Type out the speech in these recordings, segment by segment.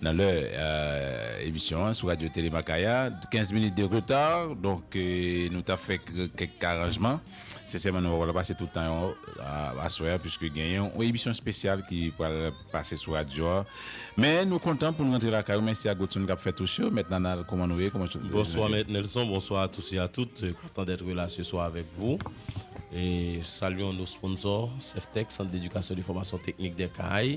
Nan lè emisyon an sou Radyo Tele Makaya, 15 minit de reta, donk nou ta fè kèk aranjman. Sensèman nou pa pral pase tout tan an aswè a puiske gen yon emisyon espesyal ki pral pase sou radyo a. Men nou kontan pou nou rantre lakay ou. Mèsi a Godson k ap fè touch yo. Mèt Nanal, kouman nou ye? Kouman tout moun ye? Bonswa Mèt Nelson, bonswa a tous e a tout. Kontan dèt rela se swa avèk vou. Salyon nou sponsò, Sèftèk, Sant Dedikasyon de Fòmasyon Teknik Dèkay.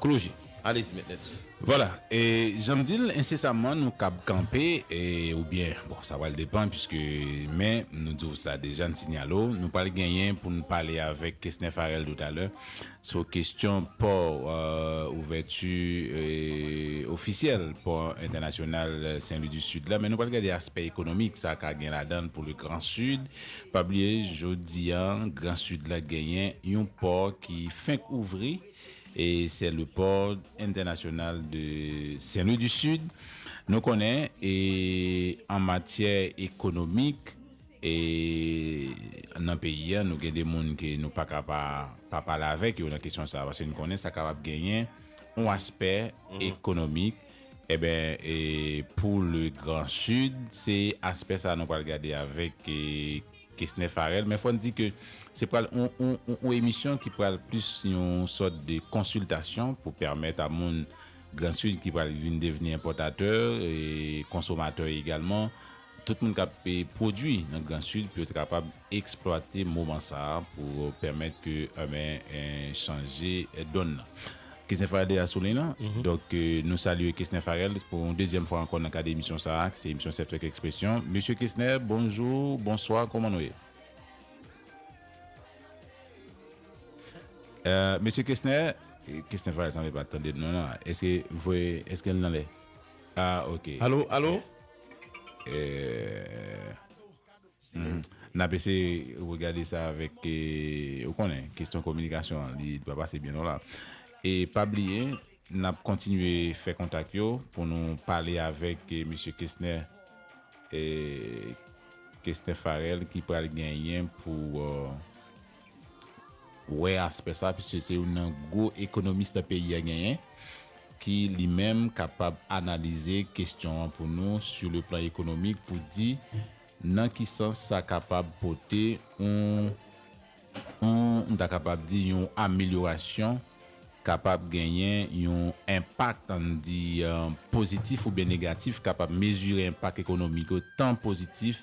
Cloji. Alezi mèt nèt. Vwala. E jan m di l, ensesamman nou kab kanpe e oubyen bon sa pral depan piske men nou di w sa deja n sinyale w nou pral genyen pou n pale avèk Kesner Pharel toutalè sou kesyon pò ouvèti ofisyèl pò entènasyonal Sen Lwi di Sid la men nou pral gade aspè ekonomik sa ka gen ladan l pou le gran Sid. Pa bliye jodi an gran Sid la genyen yon pò ki fenk ouvri. E sè le port entènasyonal de Sen Lwi di Sid. Nou konnen e an matyè ekonomik e nan peyi a nou gen de moun ke nou pa ka pa pa pale avèk yo nan kesyon sa a paske nou konnen sa kapab genyen yon aspè ekonomik eben e pou le gran Sid se aspè sa a nou pral gade avèk e Kesnè Farel, men fò n di ke se pral yon emisyon ki pral plis yon sòt de konsiltasyon pou pèmèt a moun Grand Sud ki pral vin devni enpòtatè, konsomatè egalman, tout moun k ap pwodui nan Grand Sud pou yo ta kapab eksplwate moman sa pou pèmèt ke chanje donn nan. Kesnè Farel deja sou liy lan, donk nou salye Kesnè Farel pou yon dezyèm fwa ankò nan kad emisyon sa a ki se emisyon Sèf Fèk Ekspresyon. Mesye Kesnè, bonjou, bonswa, kòman nou ye? Mesye Kesnè, Kesnè Farel sanble pa tande nou non, èske m voye, èske l nan lè? A, ok. Alo, alo? Ee. N ap eseye regade sa avèk, ou konnen, kesyon kominikasyon an, li pa pase byen lwen la. E pa bliye, n ap kontinye fè kontak yo pou nou pale avèk Mesye Kesnè, Kesnè Farèl ki pral genyen pou. wè aspè sa piske se youn nan gwo ekonomis nan peyi a genyen ki li menm kapab analize kestyon an pou nou sou le plan ekonomik pou di nan ki sans sa kapab pote yon yon m ta kapab di yon amelyorasyon kapab genyen yon enpak ann di pozitif oubyen negatif kapab mezire enpak ekonomik yo tan pozitif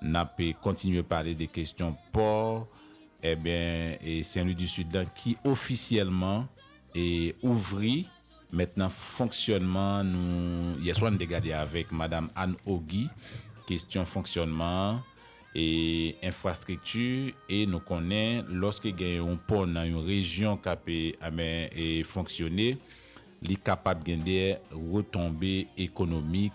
N ap kontinye pale de kestyon pò eben Sen Lwi di Sid lan ki ofisyèlman ouvri mèt nan fonksyònman nou yèswa n te gade avèk madam Anne Ogi kestyon fonksyònman an e enfrastrikti e nou konnen lòske gen yon pò nan yon rejyon k ap eben fonksyone li kapab gen de retonbe ekonomik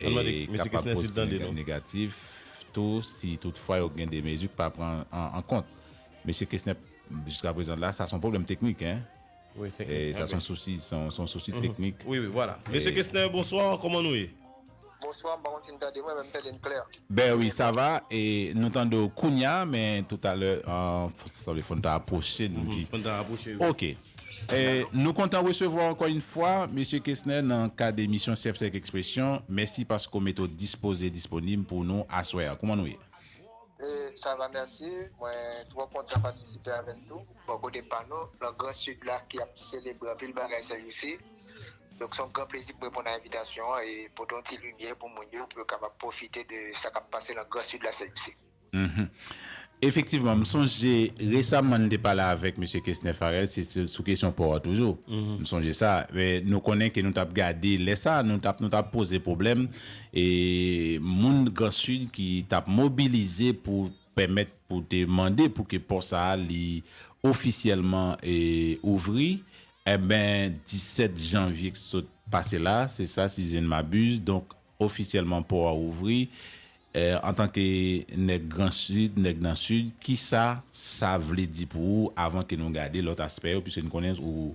e kapab pozitiv kòm negatif tou si tout fwa yo gen de mezi ki pa pran an kont. Mesye Kesner, jiska prezan la, sa son pwoblèm teknik, en. Wi, teknik. E sa son sousi, son sousi teknik. Wi, wi, vwala. Mesye Kesner, bonswa, kòman nou ye? Bonswa, m pa konn si n tande mwen, men m tande n klè. Ben wi, sa va, e nou tande w kounya, men toutalè, sanble fòn ta apwoche n pi. Fòn ta apwoche, wi. Ok. Nou kontan resevwa w ankò yn fwa Mesye Kesner nan kad emisyon Sefthèk Ekspresyon. Mèsi paske w mete w dispoze e disponib pou nou aswè a. Kouman nou ye? Sa va mèsi. Mwen twò kontan patisipe avè n tou bò kote pa nou nan gran Sid la ki ap selebre anpil bagay sè jou si. Donk se yon gran plezi pou m reponn a envitasyon an e pote yon ti limyè pou moun yo pou yo kapab pwofite de sa k ap pase nan gran Sid la sè jou si. Efektivman, m sonje resaman n te pale avèk Mesye Kesner Pharel, se sou kesyon pò a toujou. M sonje sa. Nou konnen ke nou t ap gade, lè sa a, nou t ap nou t ap poze pwoblèm e moun Gran Sid ki t ap mobilize pou pèmèt, pou te mande pou ke pò sa a li ofisyèlman ouvri. Enben, 17 janvye k sot pase la, se sa si je ne m'abuse, donk, Ofisyèlman pò a ouvri. Antanke nèg gran sid, nèg nan sid, kisa sa vle di pou ou avan ke nou gade lòt aspè yo piske nou konnen ou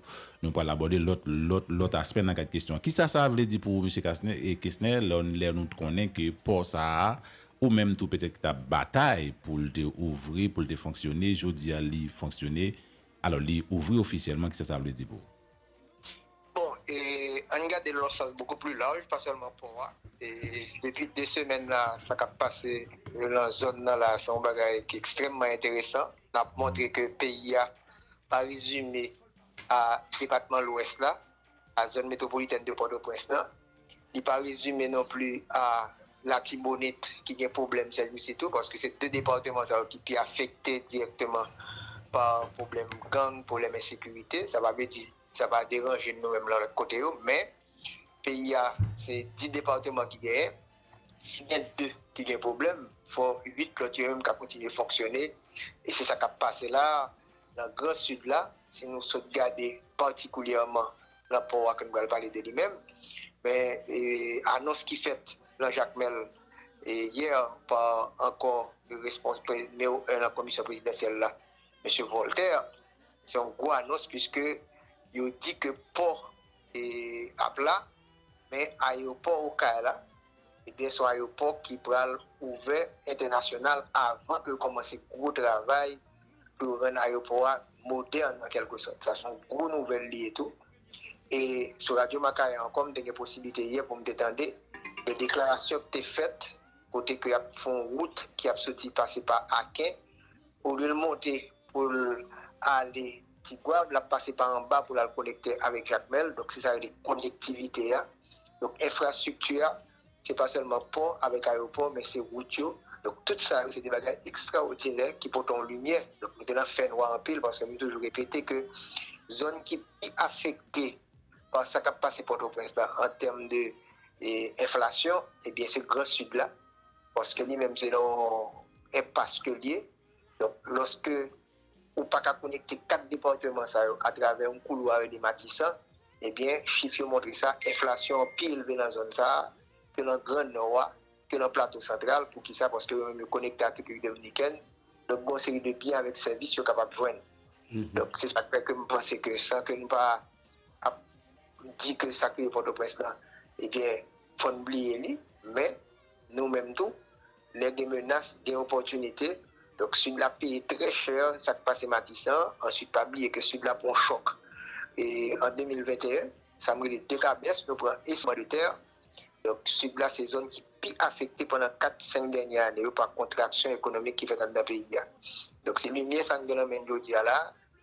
nou pral abòde lòt lòt lòt aspè nan kad kesyon an. Kisa sa vle di pou ou Mesye Kasnè Kesnè lò lè nou t konnen ke pò sa a ou menm tou petèt ki t ap batay pou l te ouvri pou l te fonksyone jodi a li fonksyone alò li ouvri ofisyèlman kisa sa vle di pou ou? Bon e ann gade l lon sans bokou pli laj pa sèlman pò a e depi 2 semèn la sa kap pase lan zòn nan la se yon bagay ki ekstrèmman enteresan nap montre ke peyi a pa rezime a depatman lwès la a zòn metwopolitèn de pòtoprens lan. Li pa rezime non pli a Latibonit ki gen pwoblèm sèdmisi tou, paske se 2 departeman sa yo ki pi afekte dirèkteman pa pwoblèm gang, pwoblèm ensekirite. Sa pa vle di sa pa deranje n nou menm nan lòt kote yo, men peyi a se 10 departeman ki genyen, si gen 2 ki gen pwoblèm, fò 8 lòt yo menm ka kontinye fonksyone e se sa k ap pase la a nan gran Sid la, si nou sot gade patikulyèman Rapò a ke n pral pale de li menm, men anons ki fèt nan Jakmèl yè pa ankò nimewo 1 nan komisyon prezidansyèl la, Mesye Vòltè, se yon gwo anons puiske yo di ke pò ap la, men ayewopò Okay la, ebyen se yon ayewopò ki pral ouvè entènasyonal avan ke yo kòmanse gwo travay. pou yo rann ayewopò a modèn an kèlke sòt. Sa se yon gwo nouvèl li ye tou. E sou radyo Makaya ankò m te gen posiblite yè pou m te tande de deklarasyon ki te fèt kote ke y ap fè yon wout ki ap soti pase pa Aken, olye l monte pou l ale Tigwav, l ap pase pa anba pou l al konekte avèk Jakmèl, donk se sa yo rele konektivite a. Donk enfrastrikti a Se pa sèlman pò avèk ayewopò, men se wout yo. Donk, tout sa yo se de bagay ekstraòdinè ki pote yon limyè. Donk, nou te nan fènwa anpil paske m toujou repete ke zòn ki pi afekte pa sa k ap pase Pòtoprens la an tèm de enflasyon, ebyen se gran Sid la paske li menm se nan yon enpas ke l ye. Donk, lòske ou pa ka konekte kat depatman sa yo atravè yon koulwa rele Matisan, Ebyen, chif yo montre sa, enflasyon an pi elve nan zòn sa a ke nan Gran Nò a, ke nan Plato Santral. Poukisa? Paske yo menm yo konekte ak Repiblik Dominikèn, donk gen yon seri de byen avèk sèvis yo kapab jwenn. Donk, se sa k fè ke m panse ke san ke nou pa ap di ke sa kriye Pòtoprens lan, ebyen, fò n bliye li. Men, nou menm tou, Lè gen menas gen opòtinite, donk Sid la ap peye trè chè sa k pase Matisan an, answit pa bliye ke Sid la pran chòk an 2021, sa m rele dekabès, nou pran esman de tè, donk Sid la se zòn ki pi afekte pandan 4, 5 dènyè ane yo pa kontraksyon ekonomik ki fèt anndan peyi a. Donk se limyè sa n gen nan men n jodi a la a.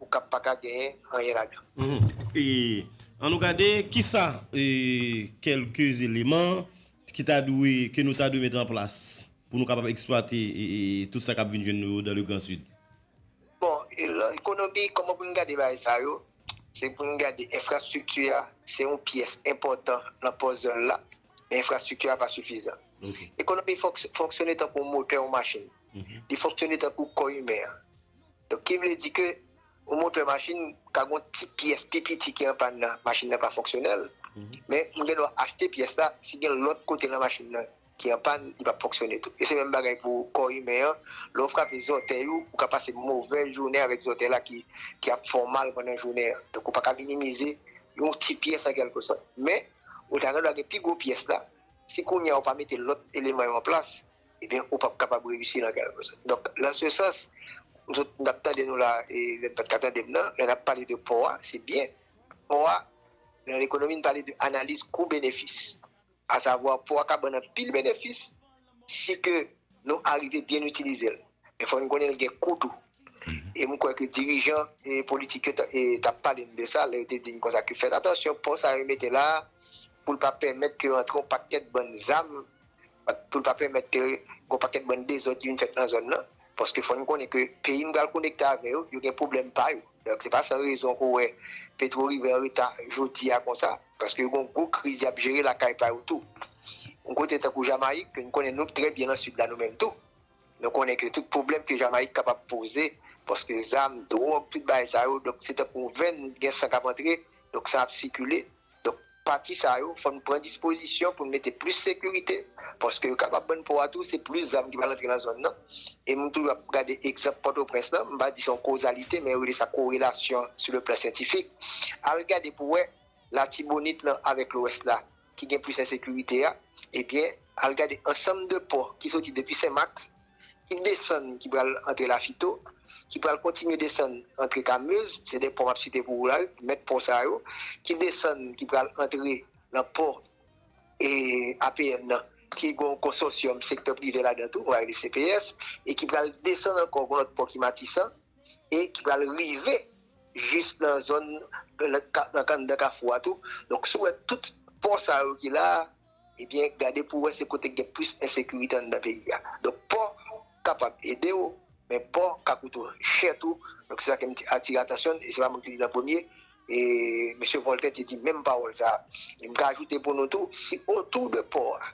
ou kap paka genyen anyen ladan. An nou gade kisa kelke eleman ki ta dwe, ke nou ta dwe met an plas pou nou kapab eksplwate tout sa kap vin jwenn nou yo dan le gran sid. Bon, ekonomi, koman pou nou gade bagay sa yo, se pou nou gade enfrastrikti a, se yon pyès enpòtan nan pòzèl la, men enfrastrikti a pa sifizan. Ekonomi fonksyone tankou yon motè yon machin. li fonksyone tankou kò imen an. Donk ki vle di ke yon motè machin ka gen yon ti pyès pi piti ki anpàn nan, machin nan pa fonksyonèl, men ou gen dwa achte pyès la, si gen lòt kote nan machin nan ki anpàn, li pap fonksyone tou. E se menm bagay pou kò imen an, lè ou frape zòtèy ou, ou ka pase movè jounen avèk zòtèy la ki ap fè w mal pandan jounen an. Donk ou pa ka minimize yon ti pyès an kèlke sòt. Men, ou ta gen dwa gen pi gwo pyès la, si kounye a ou pa mete lòt eleman yo an plas, ebyen ou pap kapab reyisi nan kèlke sòt. Donk nan se sans nou tout nap tande nou la e lèn pat ka tandem nan, lè nap pale de pò a se byen pò a nan lekonomi nou pale de analiz kou benefis a savwa pò a ka bann anpil benefis si ke nou arive byen itilizel men fòk nou konnen li gen kou tou e mwen kwè ke dirijan politik yo tap pale nou de sa lè yo te di nou konsa ke fèt atansyon pò sa yo mete la poul pa pèmèt ke rantre yon pakèt bann zam pou l pa pèmèt ke gwo pakèt bann dezòd ki vin fèt nan zòn nan, paske fò n konnen ke peyi n pral konekte avè yo, yo gen pwoblèm pa yo, donk se pa san rezon ke w wè Petro rive an reta jodi a konsa, paske yo gen yon gwo kriz y ap jere lakay pa yo tou. Yon kote tankou Jamayik ke n konnen nou trè byen nan Sid la nou menm tou, nou konnen ke tout pwoblèm ke Jamayik kapab poze, paske zam, dwòg, tout bagay sa yo, donk se tankou yon venn, gen san k ap antre, donk san ap sikile. Donk, pati sa yo, fò n pran dispozisyon pou n mete plis sekirite, paske yo kapab ban n pò a tou, se plis zam ki pral antre nan zòn nan. E m toujou ap gade egzanp Pòtoprens lan, m pa di se yon kozalite, men yo rele sa korelasyon sou le plan syantifik. Al gade pou wè Latibonit lan avèk Lwès la ki gen plis ensekirite a, ebyen, al gade ansanm de pò ki soti depi Senmak, ki desann ki pral antre lafito, ki pral kontinye desann antre kamez, se 2 pò map site pou ou la wi, mèt pò sa yo, ki desann ki pral antre nan pò e APN nan ki gen yon konsòsyòm sektè prive ladan tou, nou va rele CPS, e ki pral desann ankò gen yon lòt pò ki Matisan e ki pral rive jis nan zòn nan anndan kafou a tou, donk si w wè tout pò sa yo ki la a. ebyen gade pou wè se kote k gen plis ensekirite anndan peyi a. Donk pò kapab ede w, men pò ka koute w chè tou. Donk se sa ke m te atire atansyon n, e se pa mwen ki te di l an premye, e mesye Voltè te di menm pawòl sa a. E m ka ajoute pou nou tou, si otou de pò a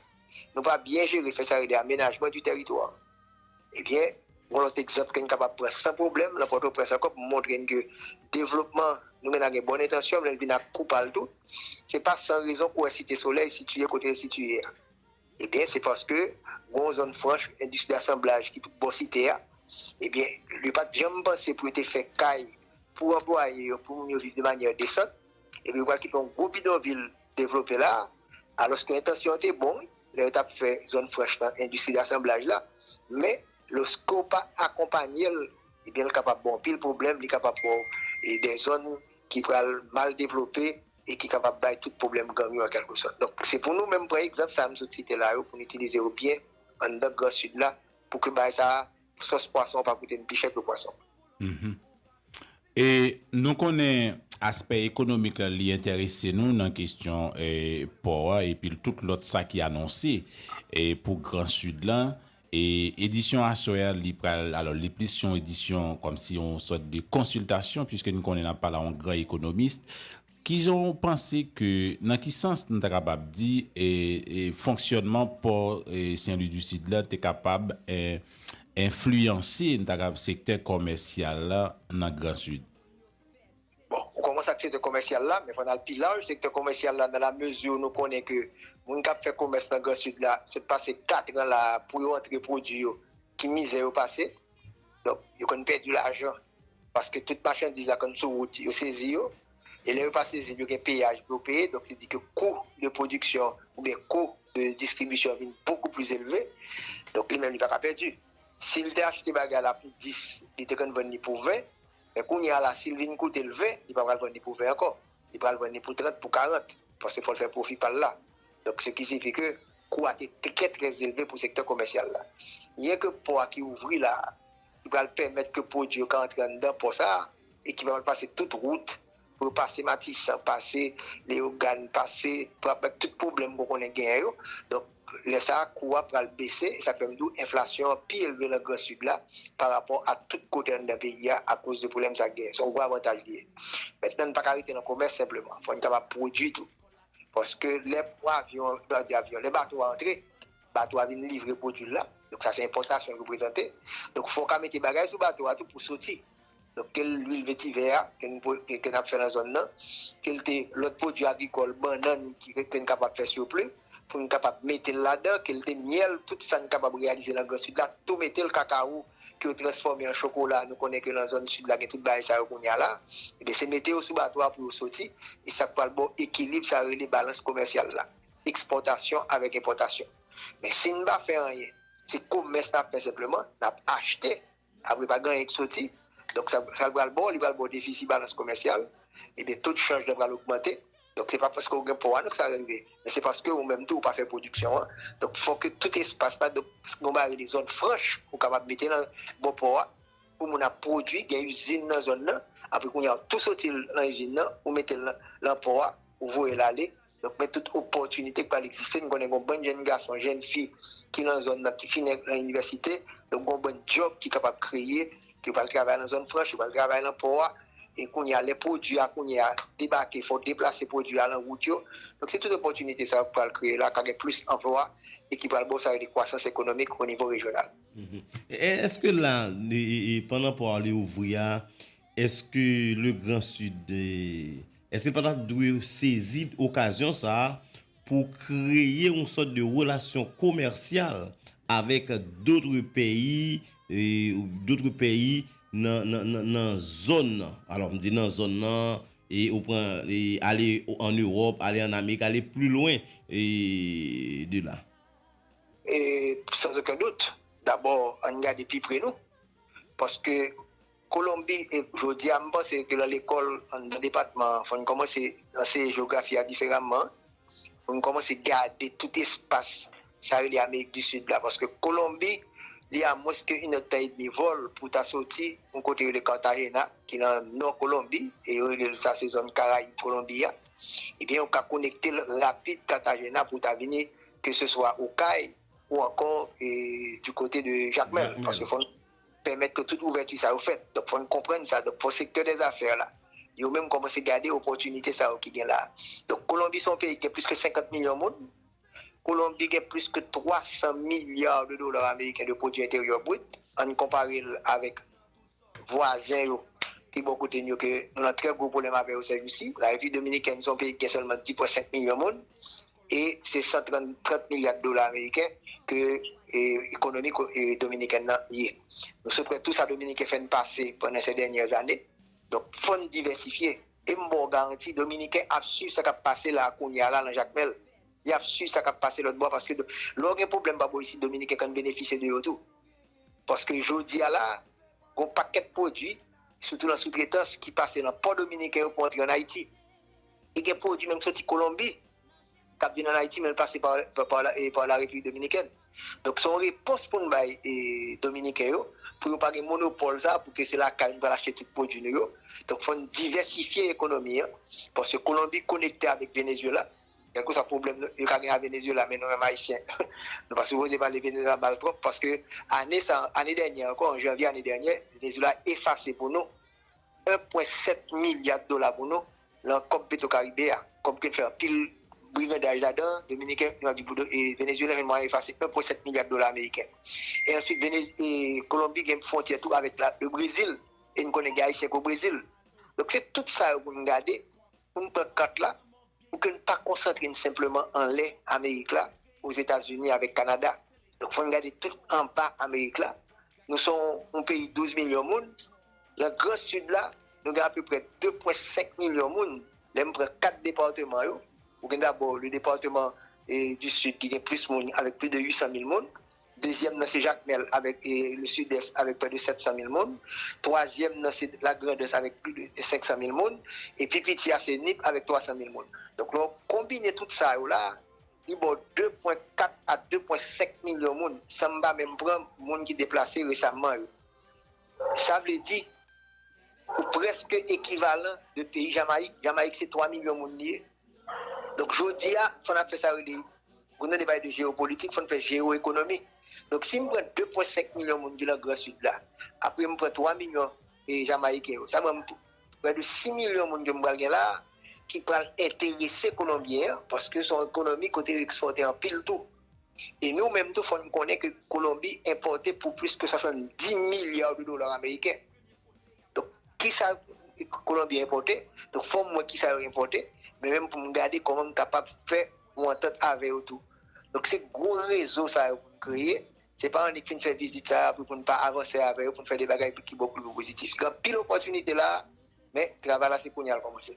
nou pa byen jere, fè sa rele amenajman di tèritwa, Ebyen, gon lòt egzanp ke n kapab pran san pwoblèm lan Pòtoprens ankò pou montre n ke devlopman nou menm la gen bòn entansyon lè l vin ak kou pa l tou. Se pa san rezon kou wè Site Solèy sitiye kote l sitiye a. Ebyen, se paske gon zòn franch endistri dasanblaj ki tout bò Site a. Ebyen, yo pa t janm panse pou yo te fè kay pou anplwaye yo, pou moun yo viv de manyè desan. Ebyen, yo pral kite yon gwo bidonvil devlope la a, alòske entansyon an te bon wi. lè yo t ap fè zòn franch lan, endistri dasanblaj la, men loske w pa akonpanye l, ebyen l kapab ba w anpil pwoblèm, li kapab ba w dè zòn ki pral mal devlope e ki kapab bay tout pwoblèm gang yo an kèlke sòt. Donk, se pou nou menm pran egzanp sa a m sot site la yo, pou n itilize yo byen anndan gran Sid la, pou ke bagay sa a, sòs pwason an pa koute n pi chè ke pwason. E nou konnen aspè ekonomik la li entèrese nou nan kestyon pò a epi l tout lòt sa ki anonse pou gran sid la. E edisyon aswè a li pral alò li plis yon edisyon kòmsi yon sòt de konsiltasyon piske n konnen n ap pale a yon gran ekonomist. Kijan w panse ke, nan ki sans nou ta kapab di fonksyònman pò Sen Lwi di Sid la te kapab enfliyanse, nou ta kapab, sektè kòmèsyal la nan Gran Sid? Bon, ou kòmanse ak sektè kòmèsyal la, men fò n al pi laj, sektè kòmèsyal la nan la mezi nou konnen ke moun k ap fè kòmès nan Gran Sid la, sot pase katran la a pou yo antre pwodui yo, ki mizè yo pase. Donk, yo konn pèdi lajan paske tout machandiz la konn sou wout, yo sezi yo. E lè yo pa sezi l, yo gen peyaj pou yo peye. Donk, se di ke kou de pwodiksyon oubyen kou de distribisyon vin bokou plis elve. Donk, li menm li pa ka pèdi. Si l te achte bagay la pou 10, li te konn vann li pou 20. Men kounye a la, si l vin koute l 20, li pa pral vann li pou 20 ankò. Li pral vann li pou 30, pou 40. Paske fò l fè pwofi pa l la. Donk, se ki sifi ke Kou a te trè trè elve pou sektè komèsyal la. Byen ke pò a ki ouvri la a, ki pral pèmèt ke pwodui yo ka antre anndan pò sa a, e ki pral pase tout wout, pou yo pase Matisan, pase Leyogàn, pase, pou ap tout pwoblèm ke w konnen genyen yo, donk lè sa a kou a pral bese, e sa k fè m di w enflasyon an pi elve lan gran Sid la parapò a tout kote anndan peyi a akoz de pwoblèm sa k genyen. Se yon gwo avantaj li ye. Mentnan n pa ka rete lan komès senpleman, fò n kapab pwodui tou. Paske lè avyon, m pa di avyon, lè bato a antre, bato a vin livre pwodui l la, donk sa se enpòtasyon l reprezante, donk fò w ka mete bagay sou bato a tou pou soti, donk ke l luil vetivè a ke n ke n ap fè nan zòn nan, ke l te lòt pwodui agrikòl, bannann ki ke n kapab fè siwopli pou n kapab mete l ladan, ke l te myèl, tout sa n kapab reyalize nan gran sid la, tou mete l, kakawo, ke yo transfòme an chokola, nou konnen ke lan zòn sid la gen tout bagay sa yo kounya la, ebyen se mete yo sou bato a pou yo soti, e sa pwal baw ekilib sa yo rele balans komèsyal la, ekspòtasyon avèk enpòtasyon. Men si n pa fè anyen, se komès n ap fè senpleman, n ap achte, apre pa gen anyen k soti, donk sa l pral baw, li pral baw defisi balans komèsyal, ebyen to de chanj lan pral ogmante. Donk se pa paske ou gen po a non ke sa rive, men se paske ou menm tou ou pa fè pwodiksyon an. Donk fòk ke tout espas la, donk nou ba rele zòn franch ou kapab mete nan bò po a pou moun ap pwodwi, gen izin nan zòn nan, apre kounye a tou soti l nan izin nan ou mete l nan po a ou voye l ale. Donk men tout opòtinite ki pral egziste, nou konnen gen yon bann jenn gason, jenn fi ki nan zòn nan ki fini nan inivèsite, donk gen yon bann djòb ki kapab kreye Yo pral travay nan zòn franch, yo pral travay nan pò a. E kounye a, lè pwodui a kounye a debake, fò w deplase pwodui a nan wout yo. Donk se tout opòtinite sa yo ki pral kreye la, ka gen plis anplwa e ki pral ba w sa yo rele kwasans ekonomik o nivo rejyonal. Èske la, pandan pò a li ouvri a, èske le gran sid, èske l pa ta dwe sezi okazyon sa a pou kreye yon sòt de relasyon komèsyal avèk dotre peyi, dotre peyi nan zòn nan. Alò m di nan zòn nan, ou pran ale an Ewòp, ale an Amerik, ale pli lwen de la. E san oken dout, dabò an n gade pi pre nou, paske Kolonbi e jodi a m panse ke lan lekòl nan depatman an fò n kòmanse anseye jewografi a diferaman pou n kòmanse gade tout espas sa rele amerik di sid la paske kolonbi li a mwens ke inèd tan edmi vòl pou w ta soti yon kote rele cartagena ki lan nò kolonbi e yo rele l sa se zòn karayib kolonbi a ebyen ou ka konekte l rapid cartagena pou w ta vini keseswa okay ou ankò di kote de jakmèl paske fò n. pèmèt ke tout ouvèti sa yo fèt. Donk fò n konprann sa. Donk fò sektè dè zafè la, yo menm kòmanse gade opòtinite sa yo ki gen la a. Donk Kolonbi se yon peyi ki gen plis ke 50 milyon moun. Kolonbi gen plis ke 300 milya de dola ameriken de pwodui enteryè brit. An n konpare l avèk vwazen yo ki bò kote n yo ke nou nan trè gwo pwoblèm avè yo sèjousi. Larepiblik Dominikèn se yon peyi ki gen sèlman 10 pwen 5 milyon moun. e se 130 milya dola ameriken ke ekonomi dominikèn nan ye. Nou sot wè tou sa dominiken fè n pase pandan sè dènyè zane, donk fò n divèsifye. E m ba w garanti dominiken ap swiv sa k ap pase la a kounya la lan Jakmèl, y ap swiv sa k ap pase lòtbò a paske lè w gen pwoblèm pa bò isit dominiken konn benefisye de yo tou paske jodi a la a gen yon pakèt pwodui sitou lan soutretans ki pase lan pò dominiken yo pou antre an Ayiti. E gen pwodui menm ki soti Kolonbi k ap vin ann Ayiti men l pase pa la Repiblik Dominikèn. Donk se yon repons pou n bay Dominiken yo pou yo pa gen monopòl sa pou ke se lakay nou pral achte tout pwodui nou yo. Donk fò n divèsifye ekonomi an paske Kolonbi konekte avèk Venezyela. Kèlke swa pwoblèm yo ka gen ak Venezyela men nou menm Ayisyen nou pa sipoze pale Venezyela mal twòp paske ane sa, ane dènyè ankò, an janvye ane dènyè Venezyela efase pou nou. 1,7 milya dola pou nou lan kòb Petrokaribe a. Kòb ke n fè anpil brigandaj ladan, Dominiken, Venezyelyen jwenn mwayen efase 1,7 milya dola ameriken. E answit Kolonbi gen fwontyè tou avèk le Brezil e n konnen gen Ayisyen ki o Brezil. Donk se tout sa yo pou n gade, pou n pran kat la, pou ke n pa konsantre n senpleman anlè Amerik la, Ozetazini avèk Kanada. Donk fò n gade tout anba Amerik la. Nou se yon peyi 12 milyon moun. Nan gran Sid la, nou gen apeprè 2 pwen 5 milyon moun, lè m pran 4 departeman yo, ou gen dabò le departeman du Sud ki gen plis moun avèk plis de 800 mil moun, dezyèm nan se Jakmèl avèk le Sud-Est avèk prè de 700 mil moun, twazyèm nan se la Grandans avèk plis de 500 mil moun, e pi piti a se Nip avèk 300 mil moun. Donk lè w konbine tout sa yo la, li ba w 2 pwen 4 a 2 pwen 5 milyon moun, san m pa menm pran moun ki deplase resamman yo. Sa vle di, ou prèske ekivalan de peyi Jamayik. Jamayik se 3 milyon moun li ye. Donk jodi a, fò n ap fè sa yo rele, pou nou te pale de jeyopolitik, fò n fè jeyoekonomi. Donk si m pran 2 pwen 5 milyon moun ki lan gran sid la, apre m pran 3 milyon jamayiken yo, sa ban m prè de 6 milyon moun ke m pral gen la a, ki pral enterese kolonbyen an, paske se yon ekonomi kote yo ekspòte anpil tou. E nou menm tou fò nou konnen ke Kolonbi enpòte pou plis ke 70 milya de dola ameriken. Donk, kisa Kolonbi enpòte? Donk, fò m wè kisa yo enpòte, men menm pou m gade kòman m kapab fè yon antant avè yo tou. Donk, se gwo rezo sa yo pou n kreye. Se pa annik fin fè vizit sa a apre pou n pa avanse avè yo, pou n fè de bagay ki bon kote pou pozitif. Gen anpil opòtinite la a, men travay la se kounye a l kòmanse.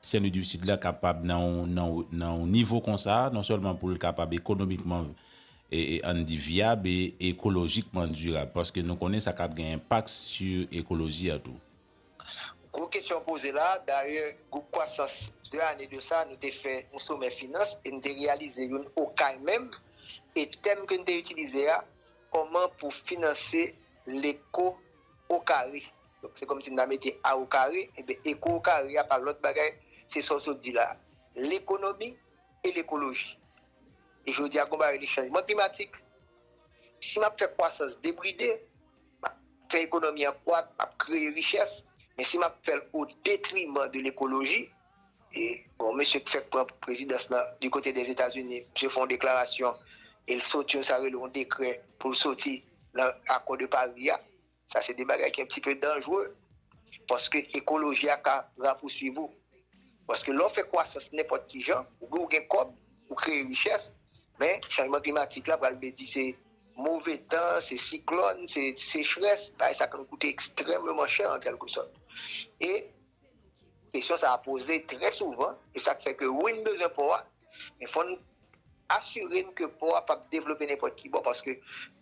Sen Lwi di Sid la kapab nan yon nivo konsa, non sèlman pou l kapab ekonomikman, an n di, vyab e ekolojikman dirab, paske nou konnen sa kab gen enpak sou ekoloji a tou. Gwo kesyon poze la, dayè gwoup kwasans 2 ane de sa nou te fè yon somè finans e n te reyalize youn Okay menm e tèm ke n te itilize a, kòman pou finanse leko okare. Donk se kòmsi n ta mete a o kare, enben eko o kare a pa lòt bagay, se sa w sot di la a, lekonomi e lekoloji. E jodi a gen yon bagay rele chanjman klimatik. Si m ap fè kwasans debride, m ap fè ekonomi an kwak, m ap kreye richès, men si m ap fè l o detriman de lekoloji, e bon mesye k fèk pran prezidans lan di kote dè Etazini, misye fè yon deklarasyon e l soti yon sa rele yon dekrè pou l soti nan akò de Pari a. Sa se de bagay ki anpti pe danjre, paske ekoloji a ka rapousuiv ou. Paske lè w fè kwasans nenpòt ki jan, oubyen w gen kòb, ou kreye richès, men chanjman klimatik la pral vle di se move tan, se siklòn, se sechrès, bagay sa k ap koute ekstrèmeman chè an kèlke sòt. E kesyon sa a poze trè souvan, e sa k fè ke wi n bezwen pò a, men fò n. Asire n ke pò a pap devlope nenpòt ki bò paske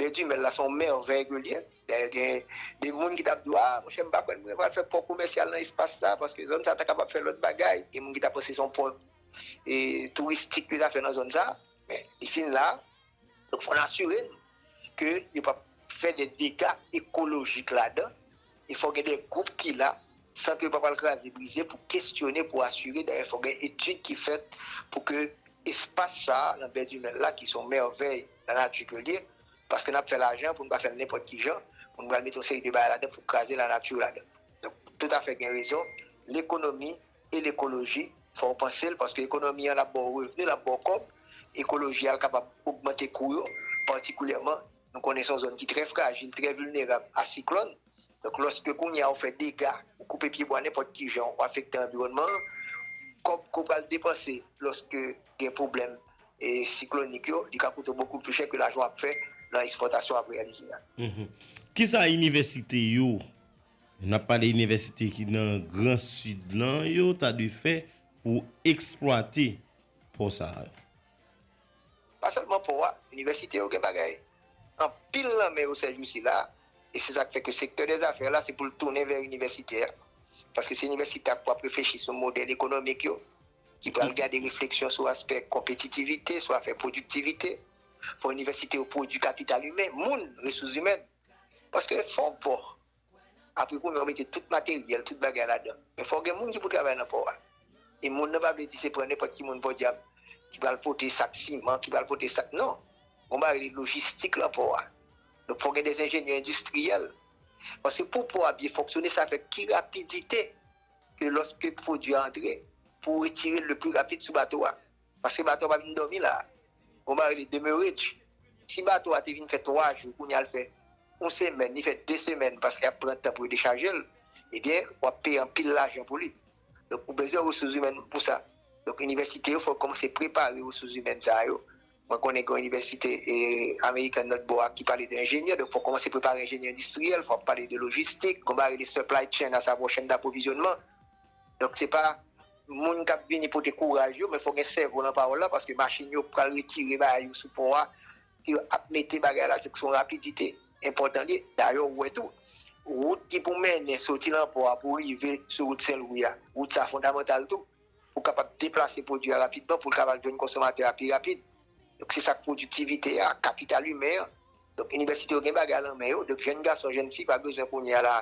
Bè di Mèl la se yon mèvèy ke l ye. Dayè gen de moun ki ta ap di w, a, monchè m pa kwè mwen pral fè pò komèsyal nan espas sa paske zòn sa ta kapab fè lòt bagay. Gen moun ki ta panse se yon pò touristik yo ta fè nan zòn sa men li fin la. Donk fò n asire n ke yo pap fè de dega ekolojik ladan. e fò gen de gwoup ki la, sant yo pa pral kraze brize pou kesyone, pou asire, dayè fò gen etid ki fèt pou ke espas sa a nan bè Dumel la ki se yon mèvèy lanati ke l ye, paske n ap fè lajan pou n pa fè l nenpòt ki jan, pou n pral mete yon seri de bagay ladan pou kraze lanati ladan. Donk, toutafè gen rezon, lekonomi e lekoloji fò w panse l, paske ekonomi an l ap ba w revni, l ap ba w kòb, ekoloji a l kapab ogmante kou yo, patikulyèman. Nou konnen se yon zòn ki trè frajil, trè vilnerab a siklòn. Donk lòske kounye a ou fè dega, ou koupe pyebwa nenpòt ki jan, ou afekte anviwònman an, kòb ke w pral depanse lòske gen pwoblèm siklonik yo, li ka koute w bokou pli chè ke lajan w ap fè nan ekspòtasyon w ap reyalize a. Kisa inivèsite yo, n ap pale inivèsite ki nan gran Sid lan yo ta dwe fè pou eksplwate pò sa yo? Pa sèlman pò a, inivèsite yo gen bagay anpil nan men yo sèjousi la, e se sa k fè ke sektè dè zafè la se pou l tounen vè inivèsitè, paske se inivèsitè a k pwap reflechi sou modèl ekonomik yo, ki pral gade refleksyon sou aspè konpetitivite, sou afè pwodiktivite. Fò inivèsite yo pwodui kapital imen, moun, resous imèn. Paske fò w pò. Apre kounye a ou mete tout materyèl, tout bagay ladan. Men fò gen moun ki pou travay nan pò a. E moun nan pa vle di se pran nenpòt ki moun pòdyab ki pral pote sak siman, ki pral pote sak non. Gon bagay rele lojistik lan pò a. Donk fò gen de enjenyè endistriyèl. Paske pou pò a byen fonksyone sa fè ki rapidite ke lòske pwodui a antre pou retirel le pli rapid sou bato a. Paske bato a pa vin dòmi la. Gon bagay rele demeurage. Si bato a te vin fè 3 jou kounye a l fè yon semèn, li fè 2 semèn paske y ap pran tan pou yo dechaje l, ebyen w ap peye anpil lajan pou li. Donk ou bezwen resouzimèn pou sa. Donk inivèsite yo fò yo kòmanse prepare resouzimèn sa yo. Mwen konnen gen yon inivèsite amerikèn lòt bò a ki pale de enjenyè. Donk fò w kòmanse prepare enjenyè endistriyèl. Fò w ap pale de lojistik. Gon bagay rele supply chain asavwa chèn daprovizyònman. Donk se pa moun kap vini pote kouraj yo men fò gen sèvo nan pawòl la paske machin yo pral retire bagay yo sou pò a yo ap mete bagay la se pou son rapidite enpòtan li dayè ou wè tou wout ki pou mennen soti nan pò a pou rive sou wout senlwi a wout sa fondamantal tou pou kapab deplase pwodui a rapidman poul kapab jwenn konsomatè a pi rapid se sak pwodiktivite a kapital imen an. Donk inivèsite yo gen bagay lan men yo, donk jèn gason, jèn fi pa bezwen kounye a la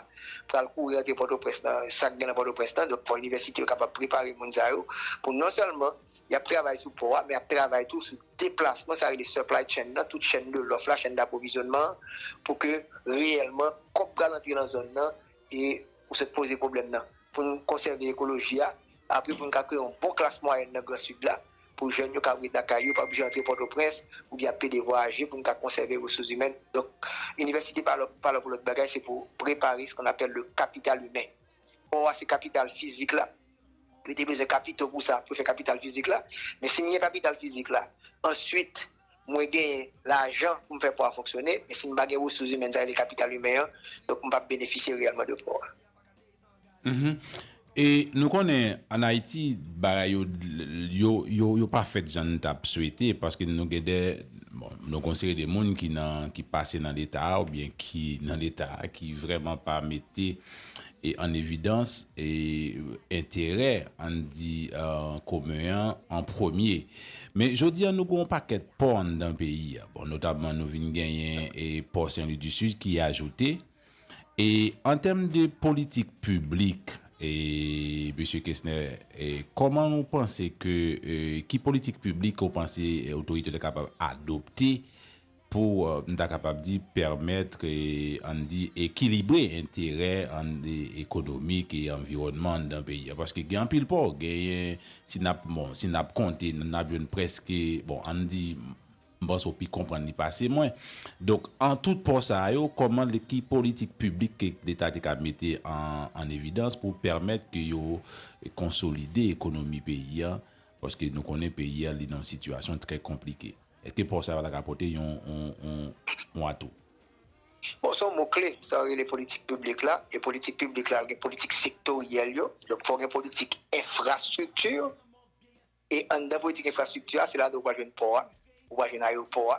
pral kouri antre Pòtoprens nan sa k gen lan Pòtoprens lan, donk fò inivèsite yo kapab prepare moun sa yo pou non sèlman y ap travay sou pò a men y ap travay tou sou deplasman sa rele supply chain lan, tout chèn de lòf la, chèn dapwovizyonman an pou ke reyèlman kòb pral antre lan zòn nan. e ou sot poze pwoblèm nan pou nou konsève ekoloji a apre pou nou ka kreye yon bon klas mwayèn nan gran sid la pou jèn yo kab ret nan kay yo pa oblije antre pòtoprens oubyen ap plede vwayaje pou nou ka konsève resous imèn donk inivèsite pa la pou lòt bagay se pou prepare se kon apèl le kapital imen pò a se kapital fizik la nou te bezwen kapito pou sa pou fè kapital fizik la men si nou gen kapital fizik la answit. mwen genyen lajan pou m fè pò a fonksyone, men si m pa gen resous imèn sa yo rele kapital imen an, donk m p ap benefisye reyèlman de pò a. E nou konnen an Ayiti bagay yo yo pa fèt jan n t ap swete paske nou gen de, bon, nou gen yon seri de moun ki nan, ki pase nan Leta a oubyen ki nan Leta a ki vrèman pa mete e an evidans enterè, ann di, komen an an premye. Men jodi a nou gen yon pakèt pò anndan peyi a. Bon, notabman nou vin genyen pò Senlwi di Sid ki ajoute. E an tèm de politik piblik, Mesye Kesnè, kòman nou panse ke, ki politik piblik ou panse otorite yo ta kapab adopte Pou, m ta kapab di, pèmètre, an n di, ekilibre enterè an ekonomik e anviwònman anndan peyi a. Paske gen anpil pò. Genyen, si n ap, bon, si n ap konte, n ap jwenn prèske, bon, an n di, m panse ou pi konprann li pase mwen. Donk, an tout pò sa yo, kòman l, ki politik piblik ke Leta te ka mete an, an evidans pou pèmèt ke yo konsolide ekonomi peyi a. Paske nou konnen peyi a li nan yon sitiyasyon trè konplike. Eske pò sa yo pa ta ka pote yon atou? Bon, son mo kle, sa yo rele politik piblik la, e politik piblik la gen politik sektoryèl yo, donk fò gen politik enfrastrikti, e anndan politik enfrastrikti a, se ladan ou pral jwenn pò a, ou pral jwenn ayewopò a,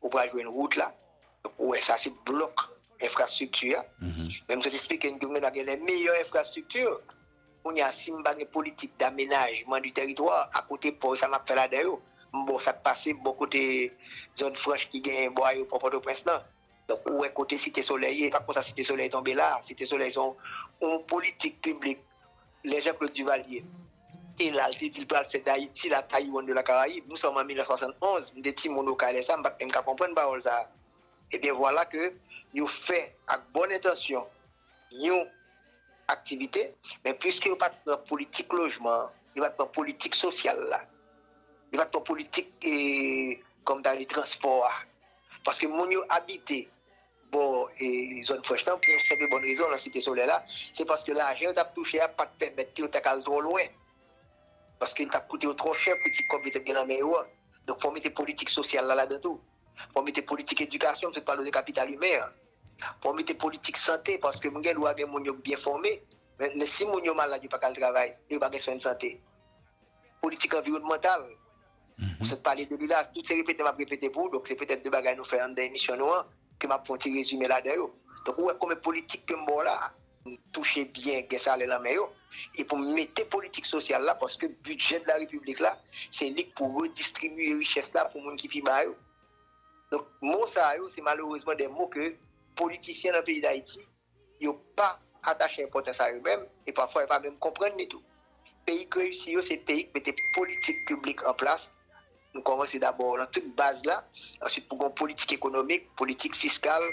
ou pral jwenn wout la, donk ou wè sa se blòk enfrastrikti a, menm jan m te esplike n ke mwen menm ap gen lè meyè enfrastrikti. Kounye a, si m pa gen politik damenajman di tèritwa, a kote pò yo, sa m ap fè ladan yo? M ba w sa k pase bò kote zòn franch ki gen bò ayewopò Pòtoprens lan. Donk, ou wè kote Site Solèy ye. E pa konsa Site Solèy tonbe la a. Site Solèy se yon politik piblik lè Janklod Divalye. E la l te di l pral fè Dayiti la Tayiwann de la Karayib. Nou sòm an 1971. M te timoun okay lè sa a, m pa t menm ka konprann pawòl sa a. Ebyen vwala ke yo fè ak bòn entansyon yon aktivite, men puiske yo pa t pran politik lojman an, yo pa t pran politik sosyal la, yo pa t pran politik kòm ta rele transpò a, paske moun yo abite bò zòn frèch lan pou yon senp e bòn rezon nan Site Solèy la, se paske lajan yo t ap touche a pa t pèmèt yo ta ka al twò lwen, paske li t ap koute yo twò chè pou ti kòb yo te gen nan men yo an. Donk fò w mete politik sosyal la ladan tou. Fò w mete politik edikasyon, m sot pale w de kapital imen an. Fò w mete politik sante, paske m gen dwa gen moun yo k byen fòme, men si moun yo malad yo pa ka al travay, e yo pa gen swen sante. Politik anviwònmantal, m sot pale de li la, tout se repete m ap repete pou w, donk se petèt de bagay nou fè anndan emisyon nou an, ke m ap fè yon ti rezime ladan yo. Donk ou wè konbyen politik ke m ba w la a. touche byen gen salè lan men yo e pou mete politik sosyal la paske bidjè de la repiblik la se li k pou redistribiye richès la pou moun ki pi ba yo donk mo sa yo se malerezman de mo ke politisyen nan peyi dayiti yo pa atache enpòtans a yo menm e pafwa yo pa menm konprann li tou peyi k reyisi yo se peyi k mete politik piblik an plas. Nou kòmanse dabò nan tout baz la, ansuit pou gen yon politik ekonomik, politik fiskal,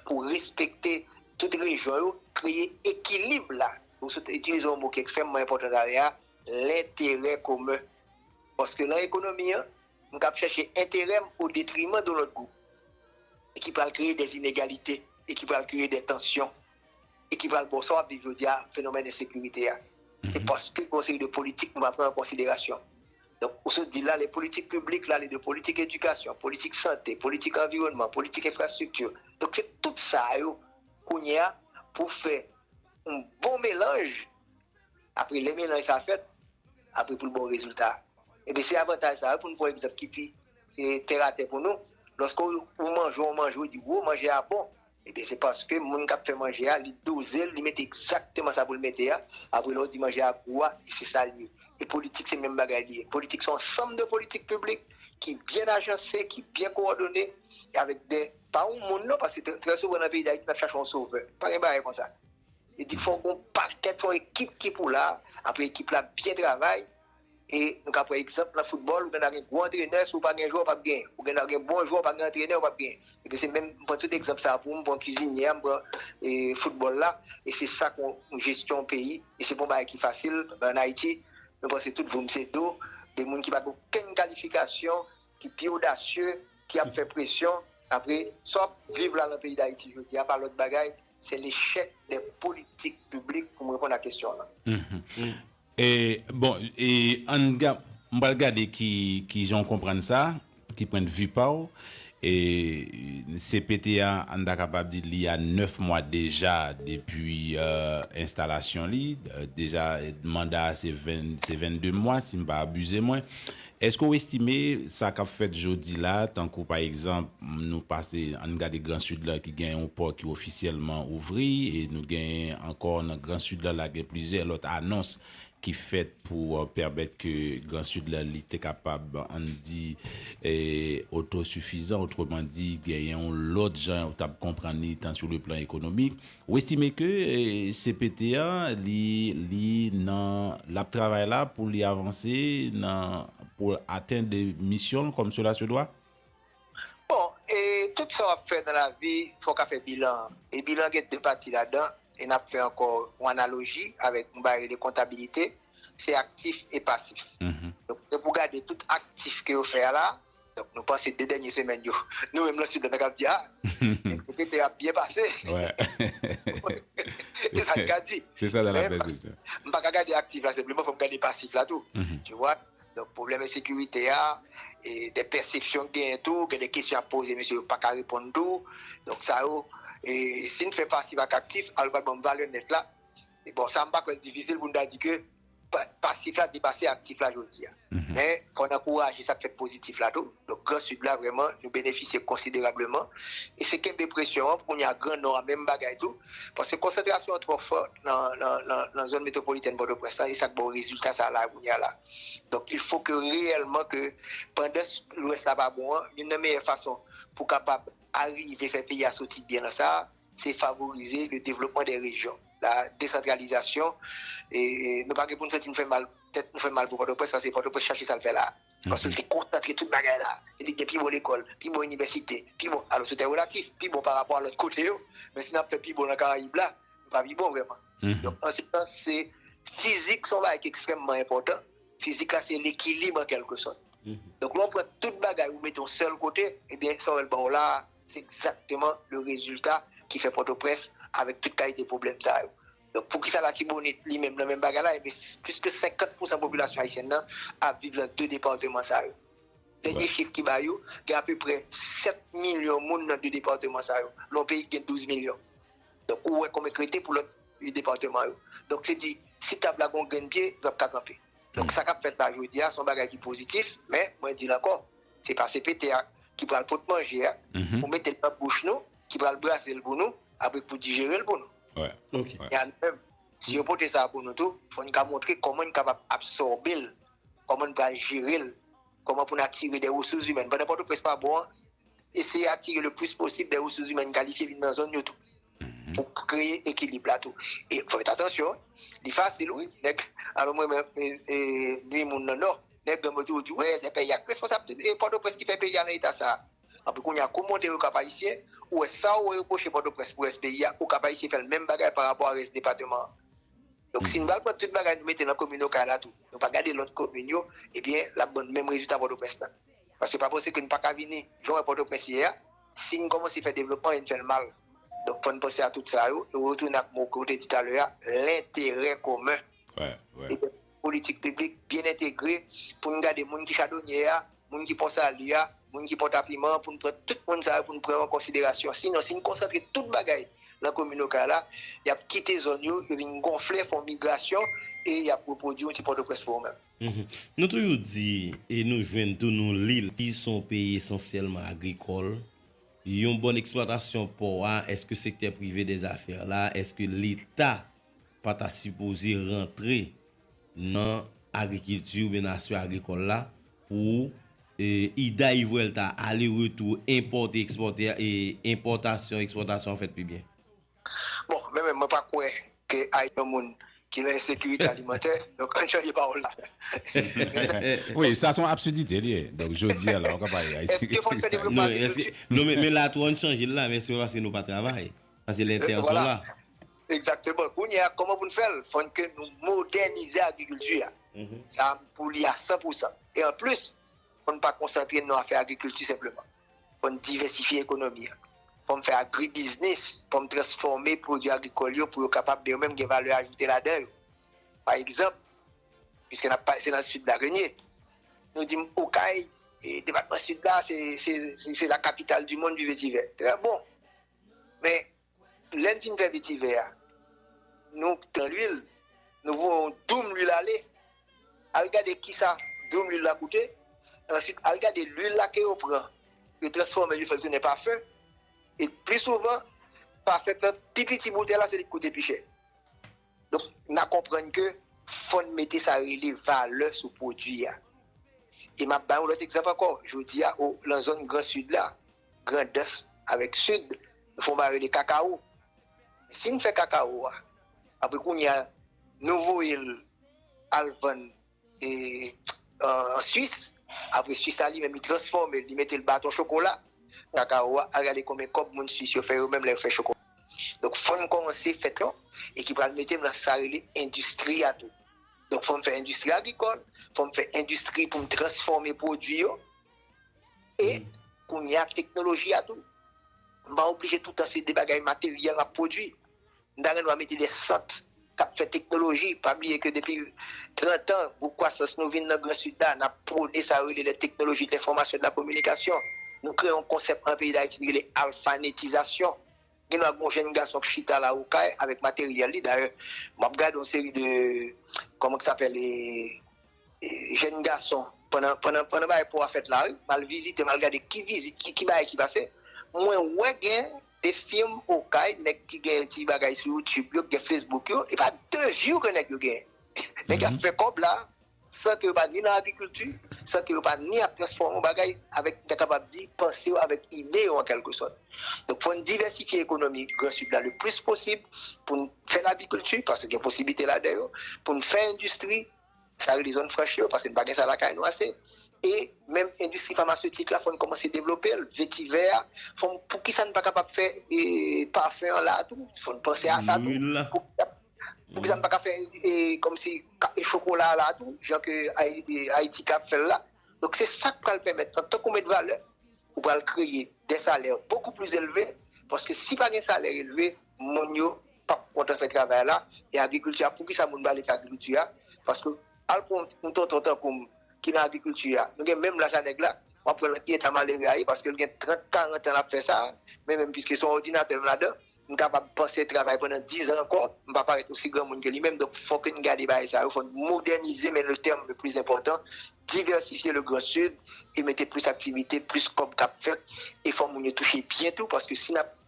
pou respekte tout rejyon yo, kreye ekilib la, pou sot itilize yon mo ki ekstrèmman enpòtan talè a, lenterè komen. Paske lan ekonomi an, m kab chèche enterè m o detriman don lòt gwoup, e ki pral kreye dè inegalite, e ki pral kreye dè tansyon, e ki pral ba w sa w ap viv jodi a, fenomèn ensekirite a. Se paske gen yon seri de politik nou pa pran an konsiderasyon. Donk, ou sot di la lè politik piblik la li de politik edikasyon, politik sante, politik anviwònman, politik enfrastrikti. Donk se tout sa yo kounye a pou fè yon bon melanj, apre lè melanj sa fèt, apre pou l ba w rezilta. Ebyen se avantaj sa yo pou nou pran egzanp ki pi tèratè pou nou, lòske ou manje yon manje ou di woo manje a bon, Ebyen se paske moun kap fè manje a li dozel li mete egzakteman sa poul mete a, apre lè ou di manje a gou a li se sal ye, e politik se menm bagay li ye, politik se yon ansanm de politik piblik ki byen ajanse, ki byen kowòdone e avèk de, pa yon moun non paske trè souvan nan peyi dayiti nap chache yon sovè, pa gen bagay konsa, e di fòk gon pakèt se yon ekip ki pou la, apre ekip la byen travay, E nou ka pran egzanp nan foutbòl, ou gen dwa gen gwo antrenè, si w pa gen jwè w pap genyen. Ou gen dwa gen bon jwè w pa gen antrenè w pap genyen. Ebyen se menm, m pran tout egzanp sa pou m pran kizinyè a, m pran foutbòl la, e se sa kon jesyon peyi, e se pa yon bagay ki fasil, men an Ayiti nou panse tout voum se do, de moun ki pa gen okenn kalifikasyon, ki pi odasye, ki ap fè presyon, apre sa w ap viv la nan peyi Dayiti jodi a pa lòt bagay Se lechèk de politik piblik pou m reponn a kesyon an. Bon, m pral gade ki jan w konprann sa, ki pwendvi pa w. CPT a, an ta kapab di li a 9 mwa deja depi enstalasyon li. Deja manda a se 22 mwa, si m pa abize mwen. Èske w estime sa k ap fèt jodi la, tankou pa egzanp, nou pase, ann gade Gran Sid la ki gen yon pò ki ofisyèlman ouvri e nou gen ankò nan Gran Sid la, la gen plizyè lòt anons ki fèt pou pèmèt ke Gran Sid la li te kapab, ann di, otosifizan, otremandi, gen yon lòt jan ou t ap konprann li, tan sou le plan ekonomik. Ou estime ke cpt an li li nan lap travay la pou li avanse nan pou l atenn misyon l kòm sela se dwa? Bon, e tout sa w ap fè nan lavi fò w ka fè bilan an. E bilan an gen 2 pati ladan, e n ap fè ankò yon analoji avèk yon bagay rele kontabilite, se aktif e pasif. Donk, gen pou w gade tout aktif ke yo fè a la, Donk nou panse 2 dènye semèn yo nou menm lan sid la nou kab di a Executive ap byen pase se sa nou ka di men m pa ka gade aktif la senpleman fò m gade pasif la tou tu wè donk pwoblèm ensekirite a e de pèsepsyon ki genyen tou gen de kesyon y ap poze mesye yo pa ka reponn tou donk sa yo e si n fè pasif ak aktif al w pral ban m valè nèt la bon sa m pa kwè l difisil pou n ta di ke pasif la depase aktif la jodi a. Men, fò n ankouraje sa k fèt pozitif la tou. Donk, Gran Sid la vrèman nou benefisye konsiderableman. E se kenbe presyon an pou kounye a Gran Nò a menm bagay tou. Paske konsantrasyon an twò fò nan zòn metwopolitèn Pòtoprens lan e sa k ba w rezilta sa a la kounye a la. Donk, il fo ke reyèlman ke pandan Lwès la pa bon an, youn nan meyè fason pou kapab arive fè peyi a soti byen nan sa a, se favorize le devlopman dè rejyon, la desantralizasyon, e nou pa gen pou nou santi nou fè mal, tèt nou fè mal pou Pòtoprens, paske Pòtoprens chache sa l fè la a, paske l te konsantre tout bagay la a, e li gen pi bon lekòl, pi bon inivèsite, pi bon, alò tout è relatif, pi bon pa rapò a lòt kote yo, men si n ap fè pi bon nan Karayib la, nou pa pi bon vrèman. Donk an se sans se, fizik se yon bagay ki ekstrèmman enpòtan, fizik la se lekilib an kèlke sòt. Donk lè w pran tout bagay ou mete yon sèl kote, ebyen sa w wè l ba w la a, Se egzakteman le rezilta ki fè Pòtoprens avèk tout kalite pwoblèm sa yo. Donk poukisa Latibonit li menm nan menm bagay la enben plis ke 50 pousan popilasyon ayisyèn nan ap viv lan 2 departeman sa yo. Dènye chif ki ba yo gen apeprè 7 milyon moun nan 2 departeman sa yo lan yon peyi ki gen 12 milyon. Donk ou wè konbyen k rete pou lòt 8 departeman yo. Donk se di si tab la gen yon grenn pye li pap ka kanpe. Donk sa kap fèt la jodi a se yon bagay ki pozitif men mwen di l ankò. Se pa CPT a ki pral pot manje a pou mete l nan bouch nou, ki pral brase l pou nou, apre pou dijere l pou nou. Men a nou menm, si yo pote sa pou nou tou, fò n ka montre kòman n kapab absòbe l, kòman n pral jere l, kòman pou n atire dè resous imèn. Pandan Pòtoprens pa bon an, eseye atire le plis posib dè resous imèn kalifye vin nan zòn yo tou. Pou kreye ekilib la tou. E fòk yo fè atansyon. Li fasil wi. Nèg alon m renmen nwi moun nan non. Nèg granm yo toujou di wi se peyi a ki responsab tout e pòtoprens ki fè peyi a nan eta sa. Anpi kounye a kou monte yo kap ayisyen, ou wè sa ou repwoche pòtoprens pou rès peyi a, ou kap ayisyen fèl menm bagay pa rapò a rès depateman an. Donk si n pral pran tout bagay nou mete nan komin okay la tou, nou pa gade lòt komin yo, ebyen lap ban nou menm rezilta pòtoprens la. Paske pa panse ke n pa ka vini jan w wè Pòtoprens ye a, si n kòmanse fè devlopman e n fè l mal. Donk fò n panse a tout sa yo e retounen ak mo ke w te di talè a, lenterè komen. E gen politik piblik byen entegre pou n gade moun ki chadonyè a, moun ki Pon Sali a, moun ki Pòtapiman an, pou n pran tout moun sa yo pou n pran yo an konsiderasyon. Sinon, si n konsantre tout bagay nan komin Okay la, y ap kite zòn yo, yo vin gonfle, fè yon migrasyon e y ap repwodui yon ti Pòtoprens pou yo menm. Nou toujou di e nou jwenn tou nou li l. Li son peyi esansyèlman agrikòl. Yon bòn eksplwatasyon pò a, èske sektè prive dèzafè la, èske leta pa ta sipoze rantre nan agrikilti oubyen nan aspè agrikòl la pou ida y vuelta, ale retou, enpòte ekspòte, enpòtasyon ekspòtasyon an fèt pi byen? Bon men menm mwen pa kwè ke Ayiti yon moun ki nan ensekirite alimantè, donk ann chanje pawòl la. Wi, sa son absidite li ye, donk jodia la ou ka pale Ayiti. Eske fòk fè devlopman agrikilti? Non men la tou ann chanje l la men se pa paske nou pa travay, paske lè tè son la. Egzakteman, kounye a kòman pou n fè l? Fòn ke nou modènize agrikilti a, sa pou li a 100 pousan e anplis. Fò n pa konsantre n nan afè agrikilti senpleman. Fò n divèsifye ekonomi an. Fò m fè agribiznis, fò m transfòme pwodui agrikòl yo pou yo kapab yo menm gen valè ajoute ladan yo. Pa egzanp, piske n ap pale, se nan Sid la ke n ye, nou di m Okay, depatman Sid la, se lakapital di monn du vetivè. Trè bon! Men, Lè n fin fè vetivè a, nou pran luil, nou voye yon doum luil ale, al gade kisa doum luil la koute, answit al gade luil la ke yo pran, yo transfòme l yo fè l tounen pafen, e pli souvan pafen k nan pi piti boutèy la se li k koute pi chè. Donk na konprann ke fò n mete sa rele valè sou pwodui a. E m ap bay yon lòt egzanp ankò, jodi a o lan zòn gran sid la, Grandans avèk Sid nou fon bagay rele kakawo men si nou fè kakawo a apre kounya nou voyel al vann an Suisse apre Suisse a li menm li transfòmel li metel baton chokola kakawo a al gade konbyen kòb moun Suisse yo fè yo menm lè yo fè chokola donk fòn kòmanse fè tou e ki pral metem nan sa rele endistri a tou donk fòn fè endistri agrikòl fòn fè endistri poum transfòme pwodwi yo. E kounye a ak teknoloji a tou, m pa oblije toutan se de bagay materyèl m ap pwodui. M ta renmen mete de sant k ap fè teknoloji. Pa bliye ke depi trantan, gwo kwasans nou vin nan gran sid la, n ap pwone sa yo rele lè teknoloji de lenfòmasyon, de la kominikasyon. Nou kreye yon konsèp an peyi Dayiti nou rele alfanetizasyon. Gen dwa gen yon jenn gason k chita la Okay avèk materyèl li, dayè m ap gade yon seri de, kòman k sapèl e. Jèn gason pandan pandan pandan bagay po a fèt la wi mal vizite mal gade ki vizit ki ki bagay ki pase mwen wè gen de firm okay nèg ki gen ti bagay sou youtube yo ki gen facebook yo epa de view ke nèg yo genyen nèg yo ap fè kòb la san ke yo pa ni nan agrikilti san ke yo pa ni ap transfòme yon bagay avèk m ta kapab di panse yo avèk ide yo an kèlke sòt donk fòn divèsifye ekonomi gran sid la le plis posib poun fè lagrikilti paske gen posiblite ladan yo poun fè endistri. sa rele zòn franch yo, paske n pa gen sa lakay nou ase. E menm endistri famasetik la fò n kòmanse devlope l, vetivè a, fò m, poukisa n pa kapab fè pafen an la a tou, fò n panse a sa tou, poukisa n pa ka fè kòmsi chokola a la a tou, jan ke Ayiti kab fè l la. Donk se sa k pral pèmèt, antan ke w met valè, ou pral kreye dè salè bokou plis elve, paske si pa gen salè elve, moun yo. pap kontan fè travay la e agrikilti a poukisa moun pale de agrikilti a paske al pran yon tonton tankoum ki nan agrikilti a nou gen menm laj a nèg la wap wè nan ki eta malere a ye paske li gen 30 40 tan lap fè sa men menm piske son òdinatè menm ladan m kapab panse travay pandan 10 an ankò m pa parèt osi granmoun ke li menm donk fò ke n gade bagay sa yo fò n modènize men le tèm le plis enpòtan divèsifye le gran sid e mete plis aktivite plis kòb kap fèt e fò moun yo touche byen tou paske si nap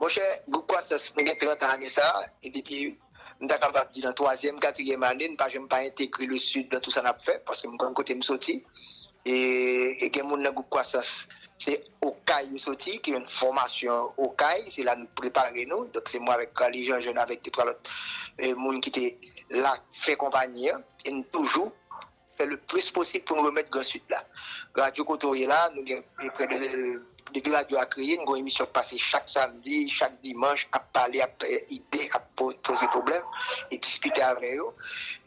Monchè, gwoup kwasans, mwen gen 30 an ane sa a, e depi, m ta kapab di nan twazyèm, katriyèm ane, n pa janm pa entegre Le Sud nan tou sa n ap fè, paske m konn kote m soti. E gen moun nan gwoup kwasans, se Okay yo soti, ki yon fòmasyon Okay, se la nou prepare nou. Donk se mwen avèk Carly Jean Jeune avèk de twa lòt moun ki te la fè konpanyi an, e n toujou fè le plis posib pou nou remèt Gran Sid la. Radyo kote w ye la, nou gen prè de, depi radyo a kreye, nou gen yon emisyon k pase chak samdi, chak dimanch, ap pale, ap bay ide, ap poze pwoblèm e diskite avè yo.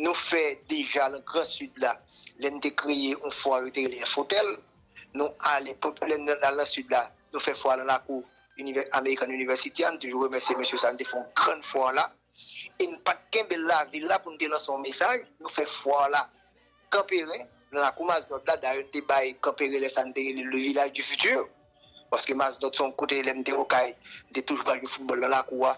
Nou fè deja nan Gran Sid la, lè n te kreye yon fwa yo te rele Infotèl. Nou ale, lè n al nan Sid la, nou fè fwa nan lakou American University a, nou toujou remèsye mesye sa, nou te fè yon grann fwa la. e n pa t kenbe l lavil la pou n te lanse yon mesaj, nou fè fwa la Kanperen, nan lakou Mazdòt la, dayè n te bay Kanperen lè sa n te rele l le village du futur paske Mazdòt se yon kote lè m te Okay m te toujou pral jwe foutbòl nan lakou a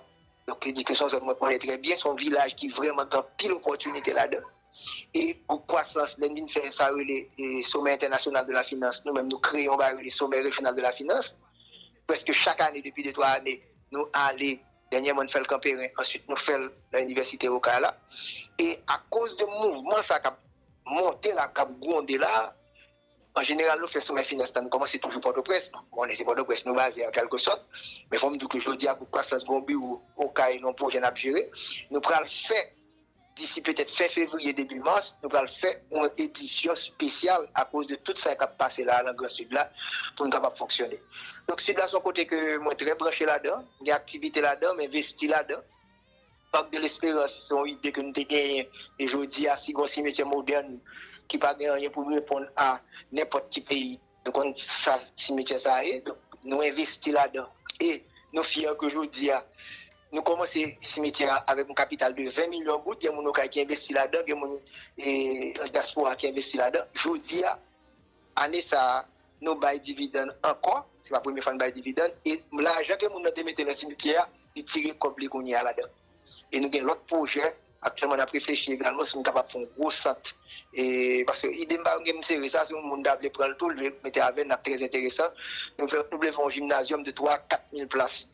donk vle di ke se yon zòn mwen konnen trè byen, se yon vilaj ki vrèman gen anpil opòtinite ladan l e pou kwasans lè n vin fè sa yo rele Sommet International de la Finance nou menm nou kreye yon bagay yo rele Sommet Régional de la Finance prèske chak ane depi de twa ane nou ale Dènyèman n fè l Kanperen, answit nou fè l nan Inivèsite Okay la. E akoz de mouvman sa k ap monte la, k ap gwonde la, an jeneral nou fè Somè Finans la, nou kòmanse toujou Pòtoprens. Nou konnen se Pòtoprens nou baze an kèlke sòt. Men fò m di w ke jodi a, Gwoup Kwasans gen yon biwo Okay, gen yon pwojè n ap jere. Nou pral fè Disi petèt fen fevriye debi mas, nou pral fè yon edisyon spesyal akoz de tout sa kap pase la nan gran sid la pou n kapab fonksyone. Donk sid la son kote ke mwen trè branche ladan, m gen aktivite ladan, m envesti ladan. Parc de l'Espérance son ide ke m te genyen e jodi a si gon simetyè modèn ki pa gen anyen pou l reponn a nenpòt ki peyi, Nou konn sa simityè sa a ye, nou envesti ladan e nou fyè ke jodi a nou kòmanse simityè a avèk yon kapital de 20 milyon goud. Gen moun Okay ki envesti ladan, gen moun dyaspora ki envesti ladan. Jodi a, ane sa a, nou bay dividann ankò, se pa premye fwa nou bay dividann e lajan ke moun nan te mete nan simityè a, li tire kòb li kounye a ladan. e nou gen lòt pwojè aktyèlman nap reflechi egalman si nou kapab fè yon gwo sant e paske ide m pa gen m sere sa si yon moun ta vle pran l tou li mete avè n lap trè enteresan nou vle fè yon jimnazyòm de 3 4 mil plas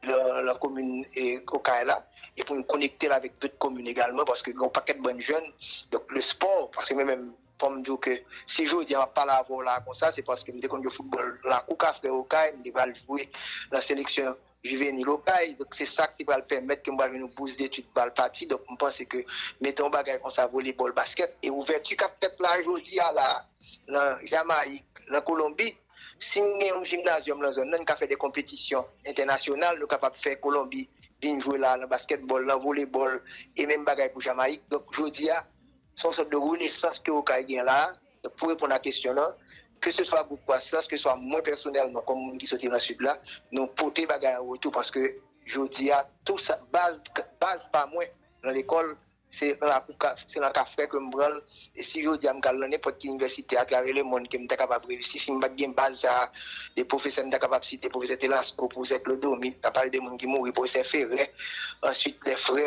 nan komin okay la e pou nou konekte l avèk dòt komin egalman paske gen yon pakèt bann jèn donk le spò paske mwen menm fò m di w ke si jodi a map pale avè w la konsa se paske m te konn jwe foutbòl lakou kafre okay m te pral jwe nan seleksyon. Juvénile Okay, donk se sa ki pral pèmèt ke mwen pral jwenn yon bous detid pou al pati, donk mwen panse ke mete yon bagay konsa volebòl, baskèt, e ouvèti kap fèt la jodi a la nan Jamayik, nan Kolonbi, si nou gen yon jimnazyòm nan zòn nan nou ka fè de konpetisyon entènasyonal, nou kapab fè Kolonbi vin jwe la nan baskètbòl, nan volebòl, e menm bagay pou Jamayik, donk jodi a se yon sòt de renesans ke Okay gen la a. Pou reponn a kesyon lan, keseswa gwoup kwasans, keseswa mwen pèsonèlman kòm moun ki soti lan Sid la, nou pote bagay an retou paske jodi a tou sa, baz, baz pa mwen lan lekòl se lan lakou ka, se lan kafè ke m pran l e si jodi a m kal lan nenpòt ki inivèsite atravè lemonn ke m ta kapab reyisi si m pat gen baz sa a e pwofesè m ta kapab site pwofesè Telasco, pwofesè Clodomir, nan pale de moun ki mouri, pwofesè Ferre, answit lè frè.